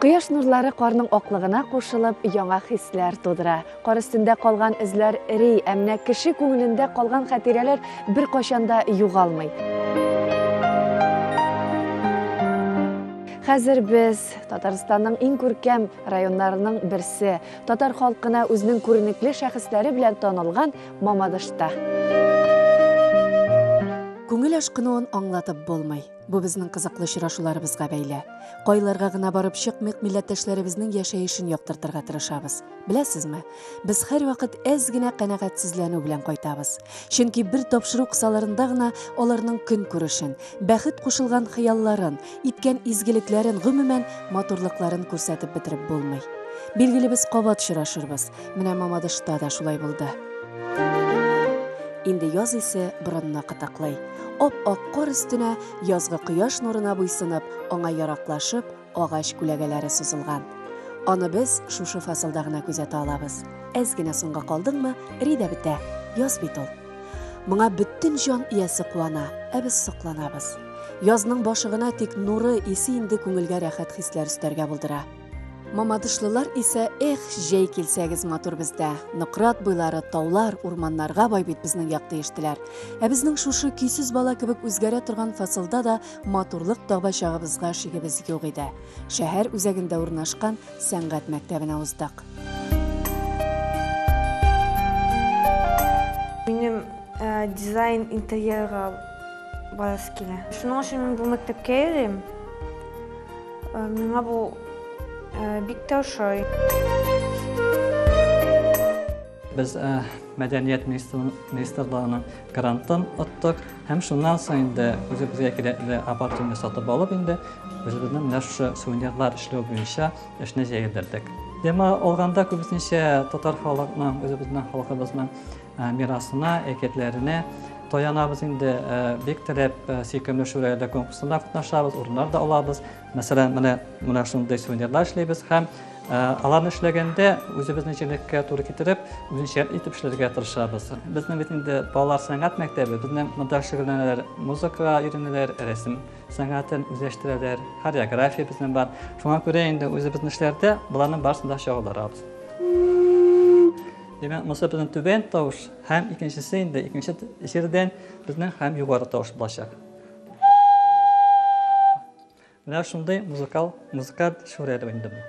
Кояш нурлары карның аклыгына кушылып, яңа хисләр тудыра. Кар өстендә калган эзләр эри, ә менә кеше күңелендә калган хатирәләр беркайчан да югалмый. Хәзер без Татарстанның иң күркәм районнарының берсе, татар халкына үзенең күренекле шәхесләре белән танылган Мамадышта. Күңел ашкынуын аңлатып булмый. Бу безнең кызыклы очрашуларыбызга бәйле. Кайларга гына барып чыкмыйк, милләттәшләребезнең яшәешен яктыртырга тырышабыз. Беләсезме, без һәрвакыт әз генә канәгатьсезләнү белән кайтабыз. Чөнки бер тапшыру кысаларында гына аларның көнкүрешен, бәхет кушылган хыялларын, иткән изгелекләрен, гомумән, матурлыкларын күрсәтеп бетереп булмый. Билгеле, без кабат очрашырбыз, Менә Мамадышта да шулай булды. Инде яз исе борынны кытыклый. Ап-ак кар өстенә язгы кояш нурына буйсынып, аңа яраклашып, агач күләгәләре сузылган. Аны без шушы фасылда гына күзәтә алабыз. Әз генә соңга калдыңмы, эри дә бетә. Яз бит ул. Моңа бөтен җан иясе куана, ә без сокланабыз. Язның башы гына, тик нуры, исе инде күңелгә рәхәт хисләр өстәргә булдыра. Мамадышлылар исә, эх, җәй килсәгез матур бездә. Нократ буйлары, таулар, урманнарга бай бит безнең як диештеләр. Ә безнең шушы көйсез бала кебек үзгәрә торган фасылда да матурлык таба чагыбызга шигебез юк иде. Шәһәр үзәгендә урнашкан сәнгать мәктәбенә уздык. Минем э, дизайн интерьерга Баласы килә. Шуның өчен мин бу мәктәпкә йөрим. Э, миңа бу э, бик тә ошый. Без э, мәдәният министрлыгының грантын оттык һәм шуннан соң инде үзебезгә кирәкле аппаратураны сатып алып инде үзебезнең менә шушы сувенирлар эшләү буенча эшне җәелдердек. Дәма алганда күбесенчә татар халкының, үзебезнең халкыбызның Мирасына, әкиятләренә таянабыз инде. Бик теләп сөйкемле шүрәләр конкурсында катнашабыз, урыннар да алабыз. Мәсәлән, менә менә шундый сувенирлар эшлибез һәм аларны эшләгәндә үзебезнең җирлеккә туры китереп, үзенчә итеп эшләргә тырышабыз. Безнең бит инде балалар сәнгать мәктәбе, безнең монда шөгыльләнәләр, музыкага өйрәнәләр, рәсем сәнгатен үзләштерәләр, хореография безнең бар. Шуңа күрә инде үзебезнең эшләрдә боларның барысын да чагылдырабыз. Димәк, монысы безнең түбән тавыш һәм икенчесе инде икенче җирдән безнең һәм югары тавыш булачак. Менә шундый музыкал музыкаль шүрәле инде бу.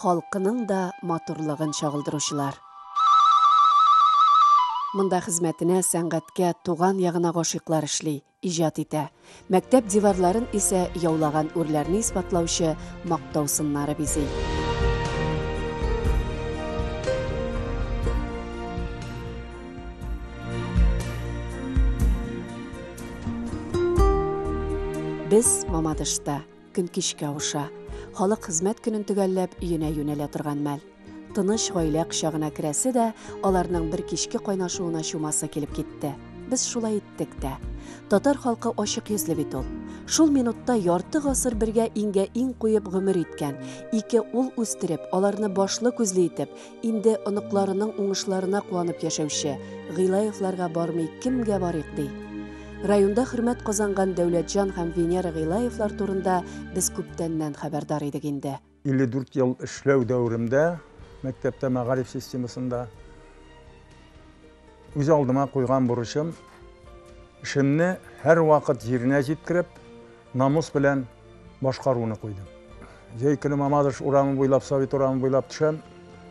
халкының да матурлыгын чагылдыручылар. Монда хезмәтенә, сәнгатькә, туган ягына гашыйклар эшли, иҗат итә. Мәктәп диварларын исә яулаган үрләрне исбатлаучы мактау сыннары бизи. Без Мамадышта. Көн кичкә аша. Халык хезмәт көнен төгәлләп, өенә юнәлә торган мәл. Тыныч гаилә кочагына керәсе дә, аларның бер кичке кайнашуына чумасы килеп китте. Без шулай иттек тә. Татар халкы ачык йөзле бит ул. Шул минутта ярты гасыр бергә иңгә-иң куеп гомер иткән, ике ул үстереп, аларны башлы-күзле итеп, Инде оныкларының уңышларына куанып яшәүче Гыйлаевларга бармый кемгә барыйк ди? Районда хөрмәт казанган Дәүләтҗан һәм Венера Гыйлаевлар турында без күптәннән хәбәрдар идек инде. 54 ел эшләү дәверемдә мәктәптә мәгариф системасында үз алдыма куйган бурычым, эшемне һәрвакыт җиренә җиткереп, намус белән башкаруны куйдым. Җәй көне Мамадыш урамы буйлап, Совет урамы буйлап төшәм.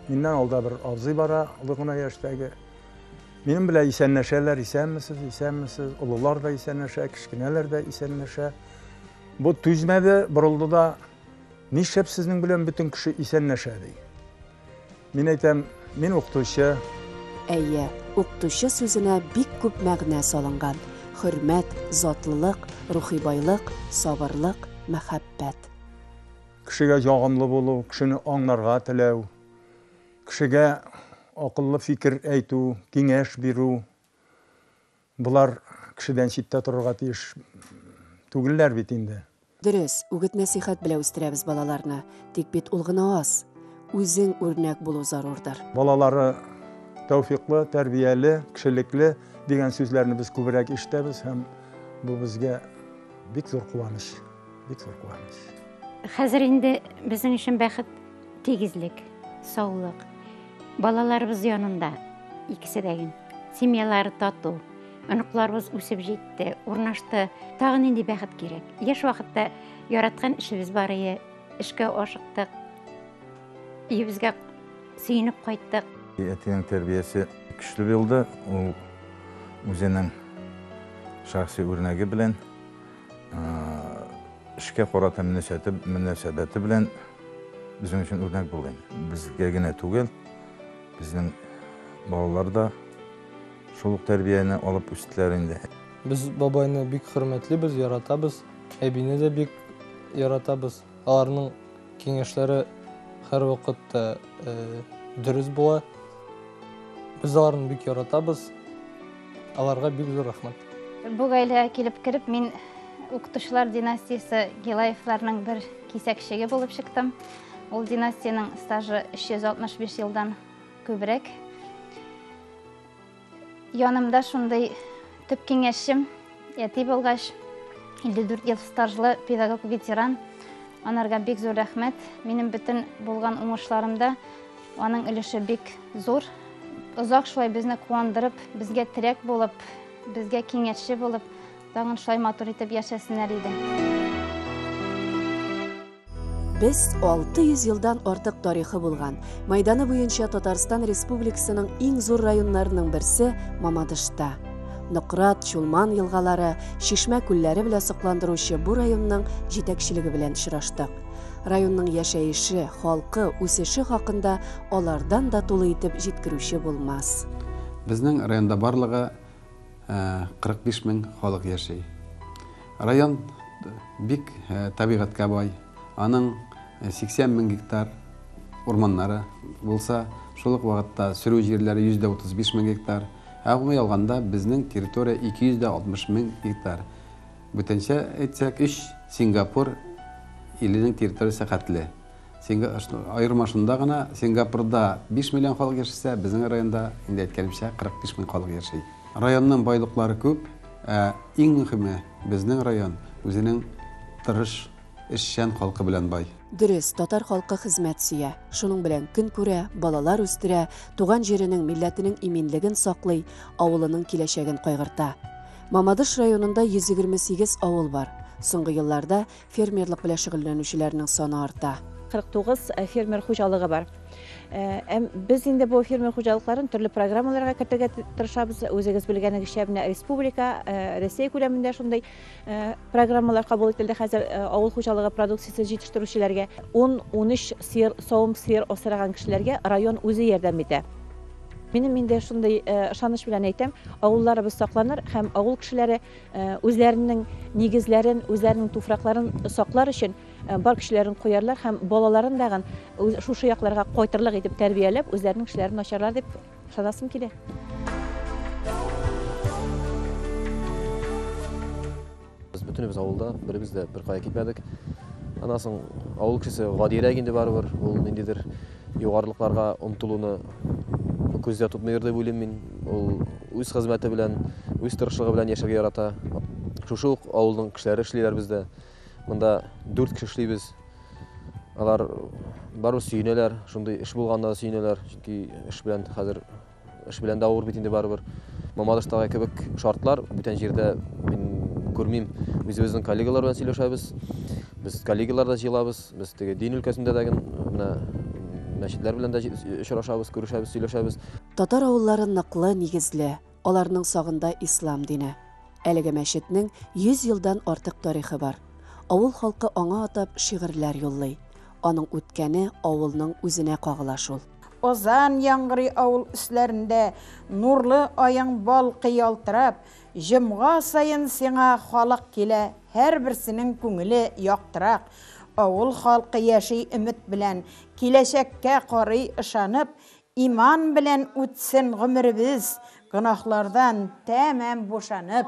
Миннән алда бер абзый бара, олы гына яшьтәге. Минем белән исәнләшәләр, исәнмесез, исәнмесез. Олылар да исәнләшә, кечкенәләр дә исәнләшә. Бу түзмәде, борылды да, нишләп сезнең белән бөтен кеше исәнләшә, ди. Мин әйтәм, мин укытучы. Әйе, укытучы сүзенә бик күп мәгънә салынган, хөрмәт, затлылык, рухи байлык, сабырлык, мәхәббәт. Кешегә ягымлы булу, кешене аңларга теләү, кешегә акыллы фикер әйтү, киңәш бирү. Болар кешедән читтә торырга тиеш түгелләр бит инде. Дөрес, үгет-нәсыйхәт белә үстерәбез балаларны, тик бит ул гына аз. Үзең үрнәк булу зарур-дыр. Балалары тәүфиклы, тәрбияле, кешелекле дигән сүзләрне без күбрәк ишетәбез һәм бу безгә бик зур куаныч, бик зур куаныч. Хәзер инде безнең өчен бәхет, тигезлек, саулык. Балаларыбыз янында икесе дә гел. Семьялары тату. Оныкларыбыз үсеп җитте, урнашты. Тагы нинди бәхет кирәк? Яшь вакытта яраткан эшебез бар иде. Эшкә ашыктык. Өебезгә сөенеп кайттык. Әтинең тәрбиясе көчле булды. Ул үзенең шәхси үрнәге белән Эшкә карата мөнәсәбәте белән безнең өчен үрнәк булды. Безгә генә түгел, безнең балалар да шул ук тәрбияне алып үстеләр инде. Без бабайны бик хөрмәтлибез, яратабыз. Әбине дә бик яратабыз. Аларның киңәшләре һәрвакыт та дөрес була. Без аларны бик яратабыз. Аларга бик зур рәхмәт. Бу гаиләгә килеп кереп, мин укытучылар династиясе Гилаевларның бер кисәкчеге булып чыктым. Ул династиянең стажы 365 елдан күбрәк. Янымда шундый төп киңәшчем, әти булгач, 54 ел стажлы педагог ветеран. Анарга бик зур рәхмәт. Минем бөтен булган уңышларымда аның өлеше бик зур. Озак шулай безне куандырып, безгә терәк булып, безгә киңәшче булып, тагын шулай матур итеп яшәсеннәр иде. Без 600 елдан артык тарихы булган, мәйданы буенча Татарстан Республикасының иң зур районнарының берсе Мамадышта. Нократ, Чулман елгалары, Чишмә күлләре белән сокландыручы бу районның җитәкчелеге белән очраштык. Районның яшәеше, халкы, үсеше хакында алардан да тулы итеп җиткерүче булмас. Безнең районда барлыгы 45 мең халык яши. Район бик табигатькә бай. Аның 80 мең гектар урманнары булса, шул ук вакытта сөрү җирләре 135 мең гектар. Ә гомуми алганда, безнең территория 260 мең гектар. Бүтәнчә әйтсәк, өч Сингапур иленең территориясе хәтле. Аерма шунда гына, Сингапурда биш миллион халык яшәсә, безнең районда, инде әйткәнемчә, 45 мең халык яши. Районның байлыклары күп, ә иң мөхиме, безнең район үзенең тырыш, эшчән халкы белән бай. Дөрес, татар халкы хезмәт сөя, шуның белән көн күрә, балалар үстерә, туган җиренең, милләтенең иминлеген саклый, авылының киләчәген кайгырта. Мамадыш районында 128 авыл бар. Соңгы елларда Фермерлык белән шөгыльләнүчеләрнең саны арта. 49 фермер хуҗалыгы бар. Әм без инде бу фермер хуҗалыкларын төрле программаларга кертергә тырышабыз. Үзегез белгәнегезчә, менә республика, Россия күләмендә шундый программалар кабул ителде хәзер авыл хуҗалыгы продукциясе җитештерүчеләргә, 10-13 сыер, савым сыер асраган кешеләргә район үзе ярдәм итә. Минем инде шундый ышаныч белән әйтәм, авылларыбыз сакланыр һәм авыл кешеләре үзләренең нигезләрен, үзләренең туфракларын саклар өчен бар көчләрен куярлар һәм балаларын дагын шушы якларга кайтырлык итеп тәрбияләп, үзләренең эшләрен ачарлар дип ышанасым килә. Без бөтенебез авылда, беребез дә беркая китмәдек. Аннан соң авыл кешесе гадиерәк инде барыбер, ул ниндидер Югарылыкларга омтылуны күздә тотмыйдыр дип уйлыйм мин. Ул үз хезмәте белән, үз тырышлыгы белән яшәргә ярата. Шушы ук авылның кешеләре эшлиләр бездә. Монда дүрт кеше эшлибез. Алар барыбер сөенәләр, шундый эш булганына да сөенәләр, чөнки эш белән хәзер Эш белән дә авыр бит инде барыбер. Мамадыштагы кебек шартлар бүтән җирдә мин күрмим. Үзебезнең коллегалар белән сөйләшәбез. Без коллегалар да җыелабыз. Без теге дин өлкәсендә дә ген менә мәчетләр белән дә очрашабыз, күрешәбез, сөйләшәбез. Татар авыллары ныклы нигезле, аларның сагында ислам дине. Әлеге мәчетнең 100 елдан артык тарихы бар. Авыл халкы аңа атап шигырьләр юллый. Аның үткәне авылның үзенә кагыла шул. Азан яңгырый авыл өсләрендә, Нурлы аең балкый ялтырап. Җомга саен сиңа халык килә, Һәрберсенең күңеле яктырак. Авыл халкы яши өмет белән, Киләчәккә карый ышанып. Иман белән үтсен гомеребез, Гөнаһлардан тәмам бушанып.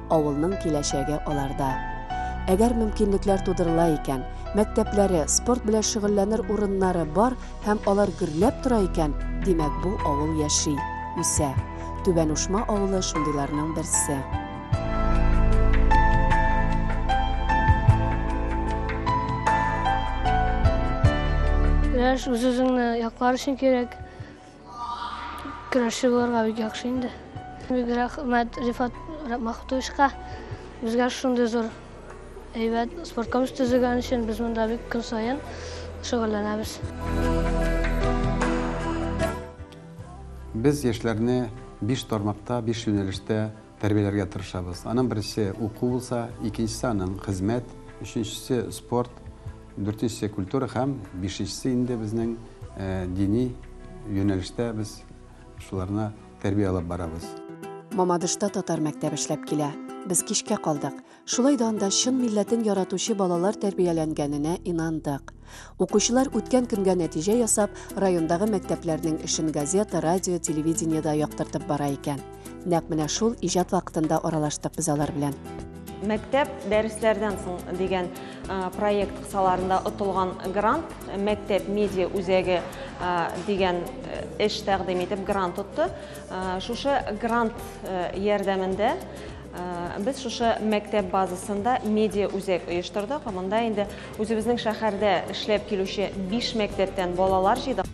Авылның киләчәге аларда. Әгәр мөмкинлекләр тудырыла икән, мәктәпләре, спорт белән шөгыльләнер урыннары бар һәм алар гөрләп тора икән, димәк, бу авыл яши, үсә. Түбән Ушма авылы шундыйларның берсе. Яшь үз-үзеңне яклар өчен кирәк. Көрәшче булырга бик яхшы инде. Бик рәхмәт Рифат Мәхмүтовичка. Безгә шундый зур әйбәт спорт комплекс төзегән өчен без монда бик көн саен шөгыльләнәбез. Без яшьләрне биш тармакта, биш юнәлештә Тәрбияләргә тырышабыз. Аның беренчесе, уку булса, икенчесе, аның хезмәт, өченчесе, спорт, дүртенчесе, культура һәм бишенчесе инде безнең дини юнәлештә без шуларны тәрбия алып барабыз. Мамадышта татар мәктәбе эшләп килә. Без кичкә калдык. Шулай да анда чын милләтен яратучы балалар тәрбияләнгәненә инандык. Укучылар үткән көнгә нәтиҗә ясап, райондагы мәктәпләрнең эшен газета, радио, телевидениедә яктыртып бара икән. Нәкъ менә шул иҗат вакытында аралаштык без алар белән. Мәктәп дәресләрдән соң дигән проект кысаларында отылган грант мәктәп медиа үзәге дигән эш тәкъдим итеп грант отты. Шушы грант ярдәмендә Без шушы мәктәп базасында медиа үзәк оештырдык. Монда инде үзебезнең шәһәрдә эшләп килүче 5 мәктәптән балалар җыйдык.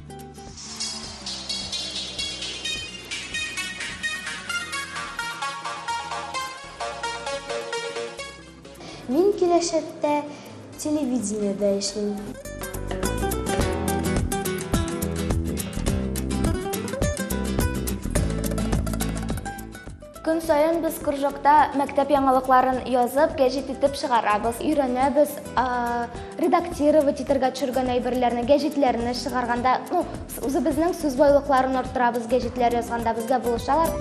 Мин киләчәктә телевидениедә эшлим. Көн саен без кружокта мәктәп яңалыкларын язып, гәҗит итеп чыгарабыз, өйрәнәбез, редактировать итәргә төшергән әйберләрне, гәҗитләрне чыгарганда, ну, үзебезнең сүз байлыкларын арттырабыз, гәҗитләр язганда безгә булышалар.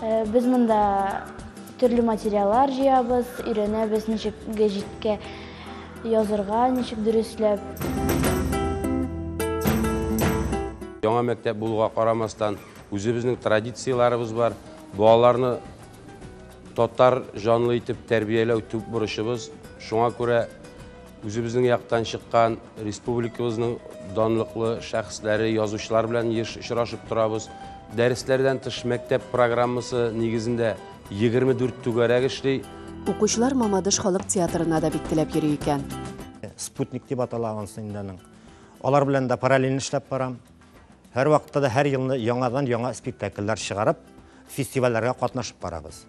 Э, без монда төрле материаллар җыябыз, өйрәнәбез, ничек гәҗиткә язырга, ничек дөресләп. Яңа мәктәп булуга карамастан, Үзебезнең традицияләребез бар. Балаларны татар җанлы итеп тәрбияләү төп бурычыбыз. Шуңа күрә үзебезнең яктан чыккан республикабызның данлыклы шәхесләре, язучылар белән еш очрашып торабыз. Дәресләрдән тыш мәктәп программасы нигезендә 24 түгәрәк эшли. Укучылар Мамадыш халык театрына да бик теләп йөри икән. Спутник дип атала анысы инде аның. Алар белән дә параллель эшләп барам. Һәрвакытта да һәр елны яңадан яңа спектакльләр чыгарып, фестивальләргә катнашып барабыз.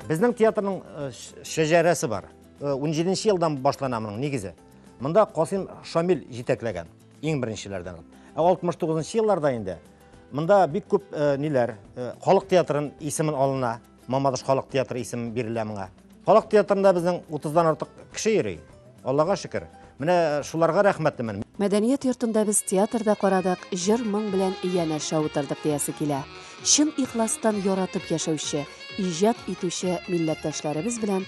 Безнең театрның э, шәҗәрәсе бар. 17 э, елдан башлана моның нигезе. Монда Касыйм Шамил җитәкләгән иң беренчеләрдән. Ә 69 елларда инде монда бик күп э, ниләр, халык театрын исемен алына. Мамадыш халык театры исеме бирелә моңа. Халык театрында безнең 30-дан артык кеше йөри. Аллага шөкер. Менә шуларга рәхмәтлемен. Мәдәният йортында без театрда карадык, җыр-моң белән янәшә утырдык диясе килә. Чын ихластан яратып яшәүче, иҗат итүче милләттәшләребез белән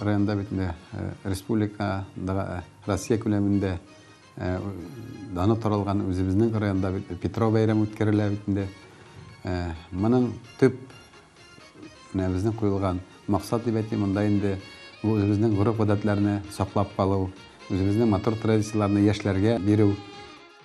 Районда бит инде республика, Россия күләмендә даны таралган үзебезнең районда бит Петро бәйрәме үткәрелә бит инде. Моның төп менә безнең куелган максат дип әйтим, монда инде бу үзебезнең гореф-гадәтләрне саклап калу, үзебезнең матур традицияләрне яшьләргә бирү.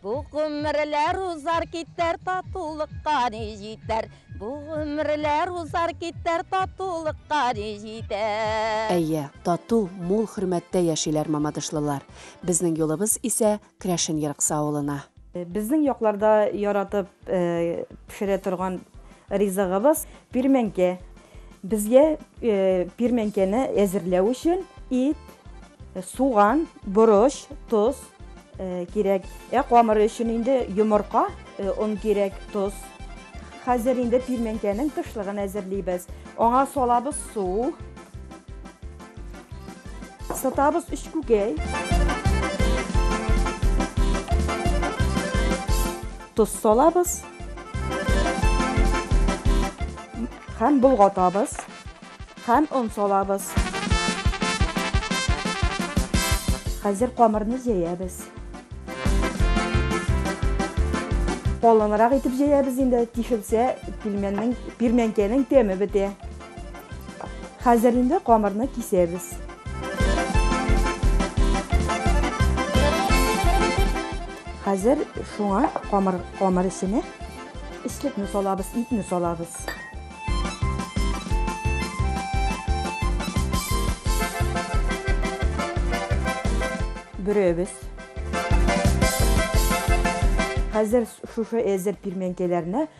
Бу гомерләр узар китәр, татулыкка ни җитәр? Бу гомерләр узар китәр, татулыкка ни җитәр? Әйе, тату, мул хөрмәттә яшиләр мамадышлылар. Безнең юлыбыз исә Крәшен Ерыксы авылына. Безнең якларда яратып пешерә торган ризыгыбыз, пирмәнкә. Безгә пирмәнкәне әзерләү өчен ит, суган, борыч, тоз кирәк. Ә камыр өчен инде йомырка, он кирәк, тоз. Хәзер инде пирмәнкәнең тышлыгын әзерлибез. Аңа салабыз су. Сытабыз өч күкәй. Тоз салабыз. Хәм болгатабыз. Хәм он салабыз. Хәзер камырны җәябез. Калынрак итеп җәябез инде, тишелсә, пирмәнкәнең тәме бетә. Хәзер инде камырны кисәбез. Хәзер шуңа камыр камыр исенә ислекне салабыз, итне салабыз. Бөрәбез. Хәзер шушы әзер пирмәнкәләрне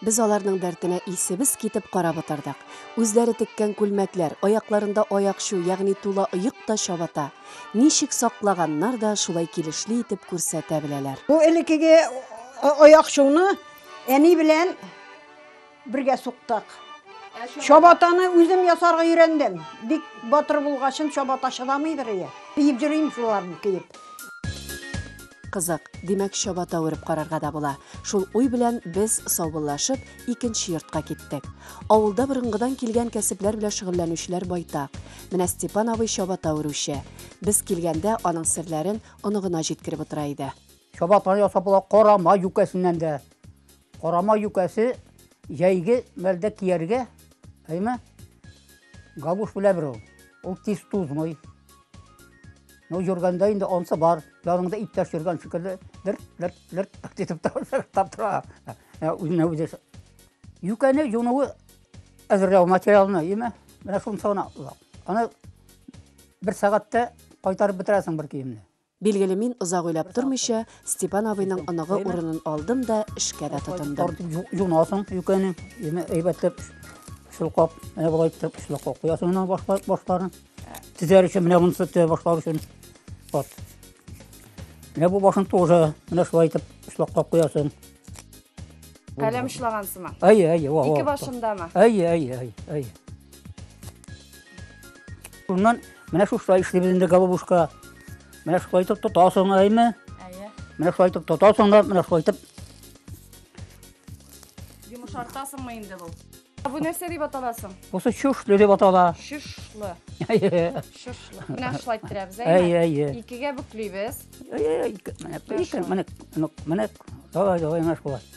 Без аларның дәртенә исебез китеп карап утырдык. Үзләре теккән күлмәкләр, аякларында аякчу, ягъни тула оек та чабата. Ничек саклаганнар да, шулай килешле итеп күрсәтә беләләр. Бу элеккеге аякчуны әни белән бергә суктык. Чабатаны үзем ясарга өйрәндем. Бик батыр булгачын, чабата чыдамыйдыр ие. Киеп йөрим шуларны киеп. Кызык, димәк, чабата үреп карарга да була. Шул уй белән без саубуллашып, икенче йортка киттек. Авылда борынгыдан килгән кәсепләр белән шөгыльләнүчеләр байтак. Менә Степан абый чабата үрүче. Без килгәндә аның серләрен оныгына җиткереп утыра иде. Чабатаны ясап була карама юкәсеннән дә. Карама юкәсе җәйге мәлдә кияргә, әйме? Галуш беләбер ул. Ул тиз тузмый. Ну, йөргәндә инде онсы бар, яныңда иптәш йөргән шикелле, лерт, лерт, лерт, так дитеп таптап тора. Ә, Үзенә үзе. Юкәне юнуы әзерләү материалны, име? Менә шунысы гына озак. Аны бер сәгатьтә кайтарып бетерәсең бер киемне. Билгеле, мин озак уйлап тормыйча, Степан абыйның оныгы урынын алдым да эшкә дә тотындым. Юнасың юкәне, ими әйбәтләп чулкап, менә болай итеп чулкап куясың менә башлар башларын. Тизәр өчен менә монысы тә башлар өчен. Вот. Менә бу башын тоже менә шулай итеп чулкап куясың. Каләм шлагансымы? Әйе, әйе, ва. Ике башындамы? Әйе, әйе, әйе, әйе. Шуннан менә шушылай эшлибез инде голубушка. Менә шулай итеп тотасың, әйме? Әйе. Менә шулай итеп тотасың да, менә шулай итеп. Йомшартасыңмы инде бу? Бу нәрсә дип аталасың? Бусы чушлы дип атала. Чушлы. Әйе. Чушлы. Менә шулай иттерәбез, әйме? Әйе, әйе. Икегә бүклибез. Әйе, әйе. Менә, менә, менә. Давай, давай, менә шулай.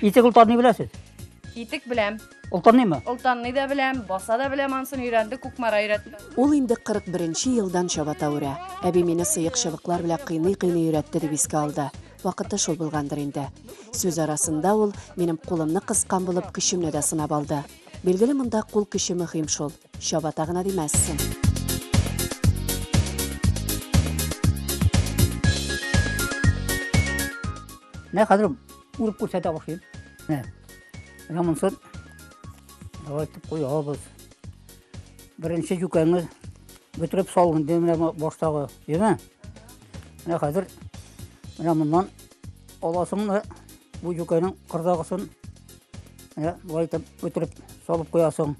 Итек ултарны беләсез? Итек беләм. Ултарныймы? Ултарны да беләм, баса да беләм, ансын өйрәнде, Кукмара өйрәтте. Ул инде 41 елдан чабата үрә. Әби мине сыек чыбыклар белән кыйный-кыйный өйрәтте дип искә алды. Вакыты шул булгандыр инде. Сүз арасында ул минем кулымны кыскан булып көчемне дә сынап алды. Билгеле монда кул көче мөһим шул. Чабата гына димәссең. Ne kadar Урып күрсәтә башлыйм. Менә. Рамонсыз. Давай тып куябыз. Беренче җүкәңез бөтереп салынды менә баштагы, яме. Менә хәзер менә моннан аласың да бу җүкәнең кырдагысын менә болай итеп бөтереп салып куясың.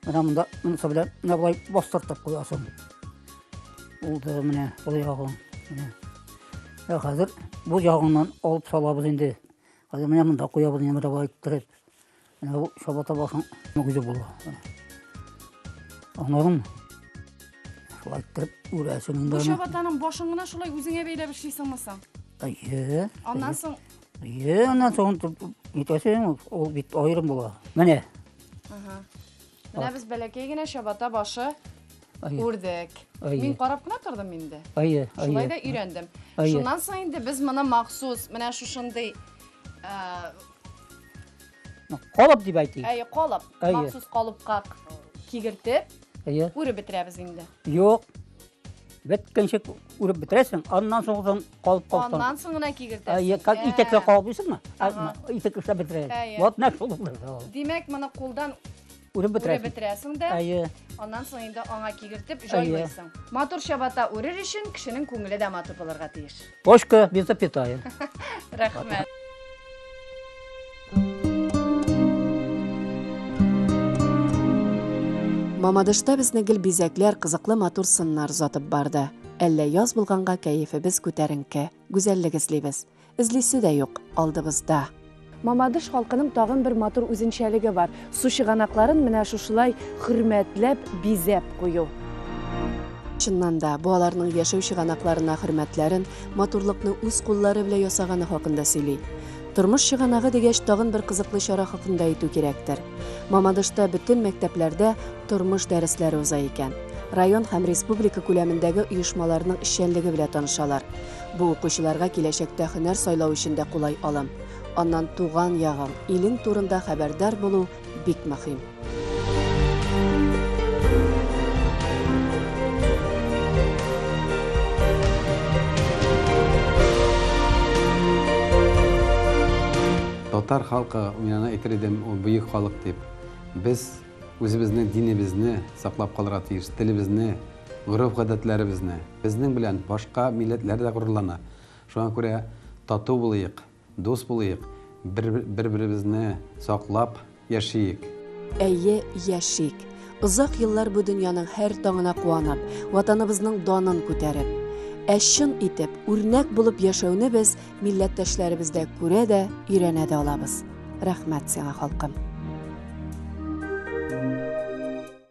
Менә монда монысы белән менә болай бастыртып куясың. Булды менә ул ягың. Менә. Ә хәзер бу ягыннан алып салабыз инде. Хәзер менә монда куябыз инде монда болай иттереп. Менә бу чабата башың үзе була. Аннан шулай иттереп үрәсең инде. Бу чабатаның башын гына шулай үзеңә бәйләп эшлисеңме соң? Әйе. Аннан соң Әйе, аннан соң итәсең, ул бит аерым була. Менә. Ага. Менә без бәләкәй генә чабата башы үрдек. Мин карап кына тордым инде. Әйе, әйе. Шулай да өйрәндем. Шуннан соң инде без моны махсус менә шушындый Калып дип әйтик. Әйе, калып. Махсус калыпка кигертеп, үреп бетерәбез инде. Юк, Беткенчек үреп бетерәсең, аннан соң соң калып калсаң. Аннан соң гына кигертәсең. Как итәккә калып исеңме? Итәк эшләп бетерәсең. Вот нәкъ шул. Димәк, моны кулдан үреп бетерәсең. Үреп бетерәсең дә. Әйе. Аннан соң инде аңа кигертеп җайлыйсың. Матур чабата үрер өчен кешенең күңеле дә матур булырга тиеш. Ложка без запятая. Рәхмәт. Мамадышта безне гел бизәкләр, кызыклы матур сыннар озатып барды. Әллә яз булганга кәефебез күтәренке, гүзәллек эзлибез. Эзлисе дә юк, алдыбызда. Мамадыш халкының тагын бер матур үзенчәлеге бар, су чыганакларын менә шушылай хөрмәтләп, бизәп кую. Чыннан да, бу аларның яшәү чыганакларына хөрмәтләрен, матурлыкны үз куллары белән ясаганы хакында сөйли. Тормыш чыганагы дигәч, тагын бер кызыклы чара хакында әйтү кирәктер. Мамадышта бөтен мәктәпләрдә тормыш дәресләре уза икән. Район һәм республика күләмендәге оешмаларның эшчәнлеге белән танышалар. Бу укучыларга киләчәктә һөнәр сайлау өчен дә кулай алым. Аннан туган ягың, илең турында хәбәрдар булу бик мөһим. Татар халкы, мин аны әйтер идем, ул бөек халык дип. Без үзебезнең динебезне саклап калырга тиеш, телебезне, гореф-гадәтләребезне. Безнең белән башка милләтләр дә горурлана. Шуңа күрә тату булыйк, дус булыйк, бер-беребезне саклап яшиек. Әйе, яшик! Озак еллар бу дөньяның һәр таңына куанып, Ватаныбызның данын күтәреп. Ә чын итеп, үрнәк булып яшәүне без милләттәшләребездә күрә дә, өйрәнә дә алабыз. Рәхмәт сиңа, халкым!